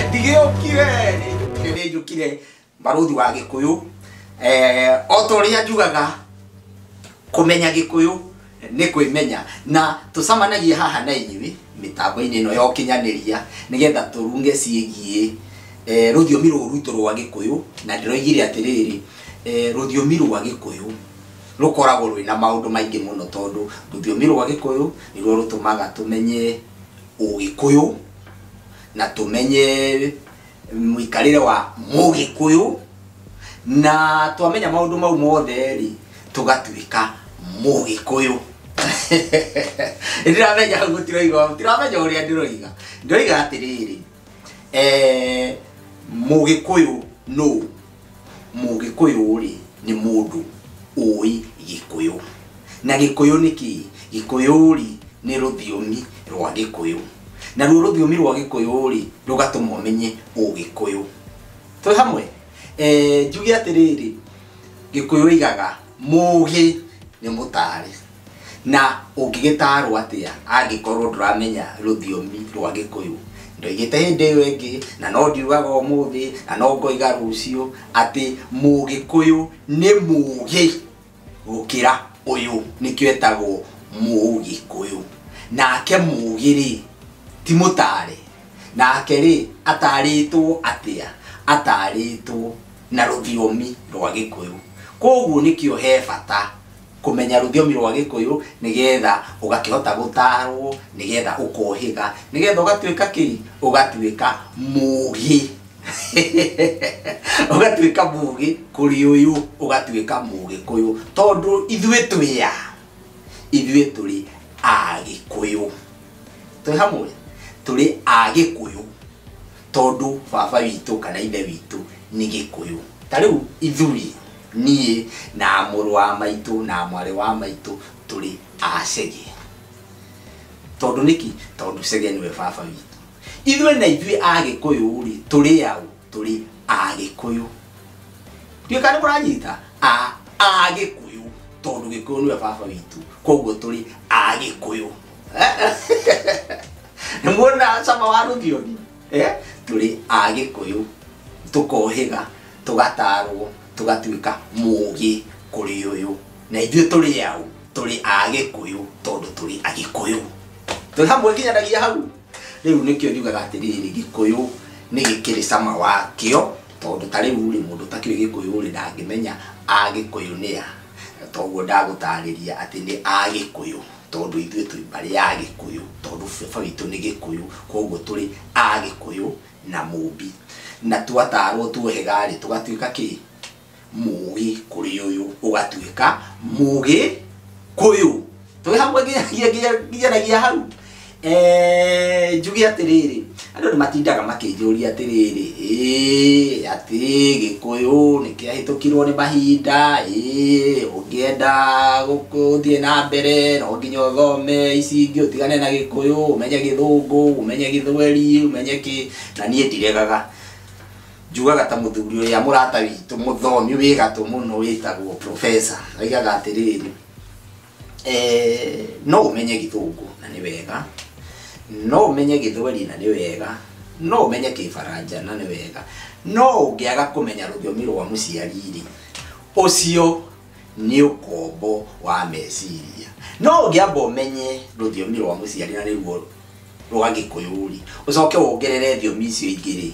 ndigĩũkire nĩ nĩ njũkire barũthi wa gĩkũyũ eh, o ta ũrĩa njugaga kũmenya gĩkũyũ nä kwä menya na tå camanagie haha na inyuä mĩtambo-inĩ ĩno ya ũkinyanĩria nĩgetha tũrunge ciĩgiĩ eh, rũthiomi rũrũ rwitũ rwa gĩkũyũ na ndĩroigire atĩrĩrĩ eh, rũthiomi rwa gĩkũyũ rũkoragwo rwĩ na maũndũ maingĩ mũno tondũ rũthiomi rwa gĩkũyũ nĩruo rũtũmaga tũmenye ũgĩkũyũ na tũmenye mũikarĩre wa mũgĩkũyũ na twamenya maũndũ mau mothe rĩ tũgatuĩka mũgĩkũyũ ndiramenya hau gũtiroiga ndiramenya ũrĩa ndĩroiga ndoiga atĩrĩrĩ eh, mũgĩkũyũ nũ Mũgĩkũyũ-rĩ nĩ mũndũ ũĩ Gĩkũyũ. Na Gĩkũyũ nĩ kĩĩ? Gĩkũyũ-rĩ nĩ rũthiomi rwa Gĩkũyũ. Naruo rũthiomi rwa Gĩkũyũ-rĩ rũgatũma ũmenye Ũgĩkũyũ. Twĩ hamwe? Njuge atĩrĩrĩ, Gĩkũyũ oigaga, Mũgĩ nĩ mũtaarĩ. Na ũngĩgĩtaarwo atĩa angĩkorwo ndũramenya rũthiomi rwa Gĩkũyũ? Ndoigĩte hĩndĩ ĩyo ĩngĩ, na no ndiugaga ũmũthĩ, na no ngoiga rũciũ, atĩ Mũgĩkũyũ nĩ mũũgĩ gũkĩra ũyũ, nĩkĩo etagwo Mũgĩkũyũ. Nake mũũgĩ-rĩ, ti mũtaare? Nake-rĩ, ataarĩtwo atĩa? Ataarĩtwo na rũthiomi rwa Gĩkũyũ. Kũoguo nĩkĩo he bata. kũmenya rũthiomi rwa gĩkũyũ nĩgetha ũgakĩhota gũtarwo nĩgetha ũkohĩga nĩgetha ũgatuĩka kĩ ũgatuĩka mũgĩ ũgatuĩka mũgĩ kũrĩ ũyũ ũgatuĩka mũgĩkũyũ tondũ ithuĩ twĩ a ithuĩ tũrĩ agĩkũyũ twĩ hamwe tũrĩ agĩkũyũ tondũ baba witũ kana ithe witũ nĩ gĩkũyũ. Ta rĩu ithuĩ, niĩ na mũrũ wa maitũ na mwarĩ wa maitũ tũrĩ a Chege. Tondũ nĩkĩ? Tondũ Chege nĩwe baba witũ. Ithuĩ na ithuĩ a gĩkũyũ rĩ, tũrĩ a ũ? Tũrĩ a gĩkũyũ. Ndiũĩ kana nĩ mũranyita? A a gĩkũyũ tondũ gĩkũyũ nĩwe baba witũ, koguo tũrĩ a gĩkũyũ. nĩmuona cama wa rũthiomi eh? tũrĩ a gĩkũyũ tũkohĩga tũgatarwo tũgatuĩka mũgĩ kũrĩ ũyũ na ithuĩ tũrĩ au tũrĩ a gĩkũyũ tondũ tũrĩ a gĩkũyũ tũrĩ hamwe nginyanagia hau rĩu nĩkĩo njugaga atĩrĩrĩ gĩkũyũ nĩ gĩkĩrĩ cama wakĩo tondũ ta rĩu rĩ mũndũ ũtakĩrĩ gĩkũyũ rĩ ndangĩmenya a gĩkũyũ nĩ a toguo ndagũtarĩria atĩ nĩ a gĩkũyũ tondũ ithuĩ twĩ mbarĩ ya Agĩkũyũ, tondũ baba witũ nĩ Gĩkũyũ, koguo tũrĩ Agĩkũyũ na Mũmbi. Na twatarwo tuohega-rĩ, tũgatuĩka kĩ? Mũgĩ kũrĩ ũyũ ũgatuĩka Mũgĩkũyũ. Twĩ hamwe nginya nginya nginya nginyanagia hau? Eh, njuge atĩrĩrĩ andũ nĩ matindaga makĩnjũria atĩrĩrĩ ĩĩ atĩ gĩkũyũ nĩ kĩahĩtũkirwo nĩ mahinda ĩĩ ũngĩenda gũkũ- ũthiĩ na mbere no nginya ũthome ici ingĩ ũtigane na gĩkũyũ ũmenye gĩthũngũ ũmenye gĩthweri ũmenye kĩ na niĩ ndiregaga njugaga ta mũthuri ũrĩa mũrata witũ mũthomi wĩ gatũ mũno wĩtagwo professor oigaga atĩrĩrĩ Eh, no umenye githungu na ni wega no umenye githweri na ni wega no umenye kifaranja na ni wega no ungiaga kumenya rũthiomi rwa mũciariri ucio ni ukombo wa meciria no ungiamba umenye rũthiomi rwa mũciari na nĩguo rwa gĩkũyũ-rĩ ũcoke wongerere thiomi icio ingĩ-rĩ,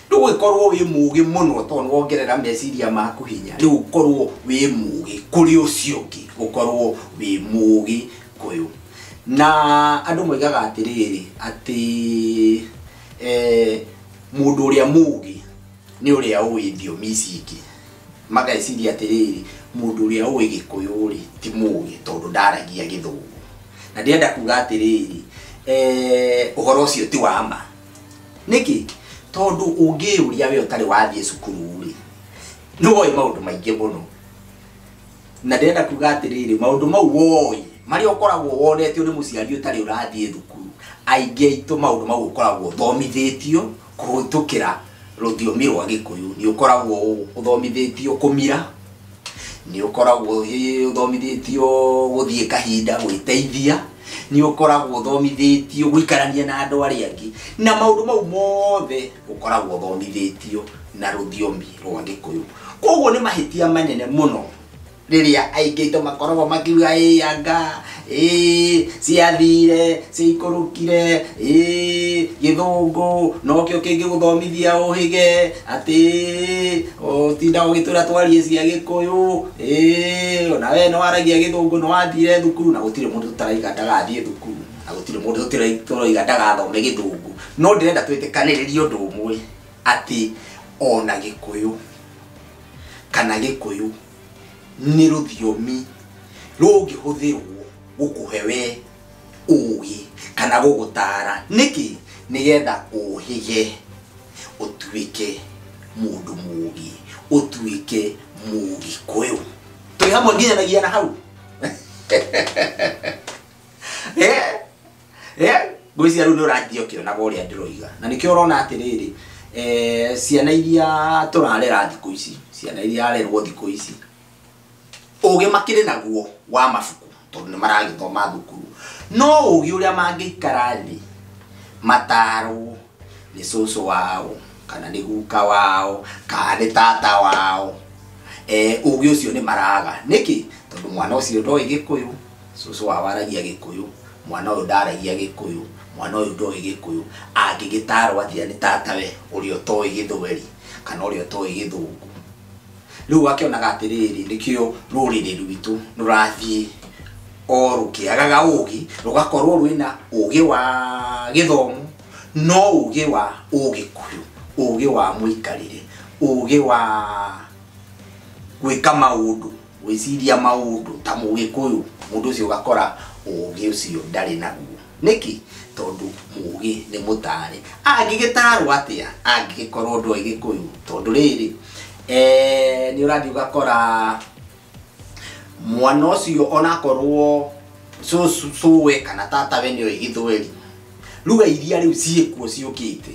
ndũgĩkorwo wĩ mũgĩ mũno tondũ nĩwongerera meciria maku hinya, rĩu ũkorwo wĩ mũgĩ kũrĩ ũcio ũngĩ, ũkorwo wĩ mũgĩ kũyũ. Na andũ moigaga atĩrĩrĩ, atĩ mũndũ ũrĩa mũgĩ nĩ ũrĩa ũĩ thiomi ici ingĩ. Magaĩciria atĩrĩrĩ, mũndũ ũrĩa ũĩ Gĩkũyũ-rĩ, ti mũgĩ tondũ ndaragia Gĩthũngũ. Na ndĩrenda kuga atĩrĩrĩ, ũhoro ũcio ti wa ma. Nĩkĩ? Tondũ ũngĩyũria wee ũtarĩ wathiĩ cukuru-rĩ, nĩũĩ maũndũ maingĩ mũno. Na ndĩrenda kuga atĩrĩrĩ, maũndũ mau ũĩ, marĩa ũkoragwo wonetio nĩ mũciari ũtarĩ ũrathiĩ thukuru, aingĩ aitũ maũndũ mau ũkoragwo ũthomithĩtio, Kũhĩtũkĩra rũthiomi rwa Gĩkũyũ nĩ ũkoragwo ũthomithĩtio kũmira, nĩ ũkoragwo ũthomithĩtio gũthiĩ kahinda, gwĩteithia, nĩ ũkoragwo ũthomithĩtio gũikarania na andũ arĩa angĩ, na maũndũ mau mothe ũkoragwo ũthomithĩtio na rũthiomi rwa Gĩkũyũ. Koguo nĩ mahĩtia manene mũno. rĩrĩa aingĩito makorogo makiuga ĩ yanga ĩ ciathire ciaikũrũkire ĩ gĩthũngũ nokĩo kĩngĩgũthomithia ũhĩge atĩ ũtinda ũgĩtwĩra twarie cia gĩkũyũ ĩ ona we nĩ waragia gĩthũngũ nĩ wathire thukuru na gũtirĩ mũndũ tũtaraiga ndagathiĩ thukuru na gũtirĩ mũndũ tũraiga ndagathome gĩthũngũ no ndĩrenda twĩtĩkanĩrĩrie ũndũ ũmwe atĩ ona gĩkũyũ kana gĩkũyũ nĩ rũthiomi rũngĩhũthĩrwo gũkũhe we ũgĩ kana gũgũtara nĩkĩ nĩgetha ũhĩge ũtuĩke mũndũ mũgĩ ũtuĩke mũgĩkũyũ twĩ hamwe nginyanagia na hau Eh? Eh, ngwĩciria rĩu nĩ ũranjia ũkĩonaga ũrĩa ndĩroiga na nĩkĩo ũrona atĩrĩrĩ eh, ciana iria tũrarera thikũ ici ciana iria arerwo thikũ ici ũgĩ makĩrĩ naguo wa mabuku tondũ nĩ maragĩthoma thukuru no ũgĩ ũrĩa mangĩikara thĩ matarwo nĩ cũcũ wao kana nĩ guka wao kana nĩ tata wao eh, ũgĩ ũcio nĩ maraga nĩkĩ tondũ mwana ũcio ndoĩ gĩkũyũ Cũcũ wao aragia gĩkũyũ, mwana ũyũ ndaragia gĩkũyũ, mwana ũyũ ndoĩ gĩkũyũ, angĩgĩtarwo atĩa nĩ tatawe ũrĩa ũtoĩ gĩthweri, kana ũrĩa ũtoĩ gĩthũngũ. Rĩu akĩonaga atĩrĩrĩ, nĩkĩo rũrĩrĩ rwitũ rũrathiĩ o rũkĩagaga ũgĩ, rũgakorwo rwĩna ũgĩ wa gĩthomo, no ũgĩ wa ũgĩkũyũ, ũgĩ wa mũikarĩre, ũgĩ wa gwĩka maũndũ. gwĩciria maũndũ ta mũgĩkũyũ mũndũ ũcio ũgakora ũgĩ ũcio ndarĩ naguo nĩkĩ tondũ mũgĩ nĩ mũtare angĩgĩtarwo atĩa angĩgĩkorwo ndoĩ gĩkũyũ tondũ rĩrĩ eh, nĩ ũrathiĩ ũgakora mwana ũcio onakorwo cũwe kana tatawe nĩoĩ gĩthweri lugha iria rĩu ciĩkuo ciũkĩte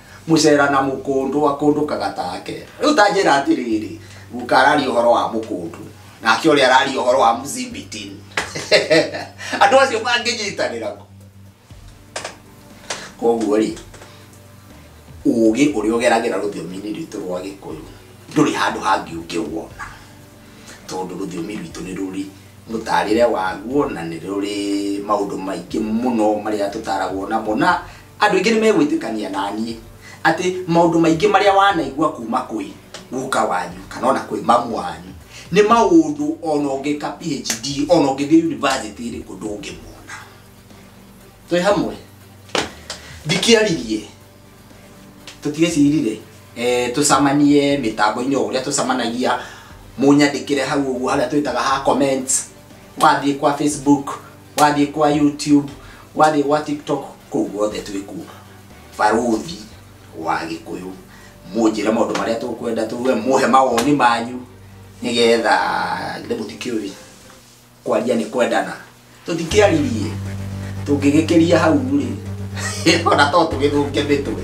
Mũcera na mũkũndũ akũndũkaga take. Rĩu ta njĩra atĩrĩrĩ, guka araria ũhoro wa mũkũndũ, nake ũrĩa araria ũhoro wa mzibitin. Andũ acio mangĩnyitanĩra kũ? Koguo rĩ, ũũgĩ ũrĩa ũgeragĩra rũthiomi-inĩ rwitũ rwa Gĩkũyũ ndũrĩ handũ hangĩ ũngĩwona, tondũ rũthiomi rwitũ nĩ rũrĩ mũtarĩre waguo na nĩ rũrĩ maũndũ maingĩ mũno marĩa tũtaragwo namo na Andũ aingĩ nĩmegwĩtĩkania na niĩ atĩ maũndũ maingĩ marĩa wanaigua kuma kwĩ guka wanyu kana ona kwĩ mamu wanyu nĩ maũndũ ona ũngĩka PHD ona ũngĩthiĩ university ĩrĩkũ ndũngĩmona. Twĩ hamwe? Ndikĩaririe tũtiecirire eh, tũcamanie mĩtambo-inĩ o ũrĩa tũcamanagia mũnyandĩkĩre hau ũguo harĩa twĩtaga ha comments wathiĩ kwa Facebook wathiĩ kwa youtube wathiĩ gwa tiktok kũu guothe twĩ kuo barũthi wa gĩkũyũ mũnjĩre maũndũ marĩa tũkwenda tuge mũhe mawoni manyu nĩgetha githĩ mũtikĩũĩ kwaria nĩ kwendana tũtikĩaririe tũngĩgĩkĩria hau rĩ ona to tũgĩthũke mĩtwe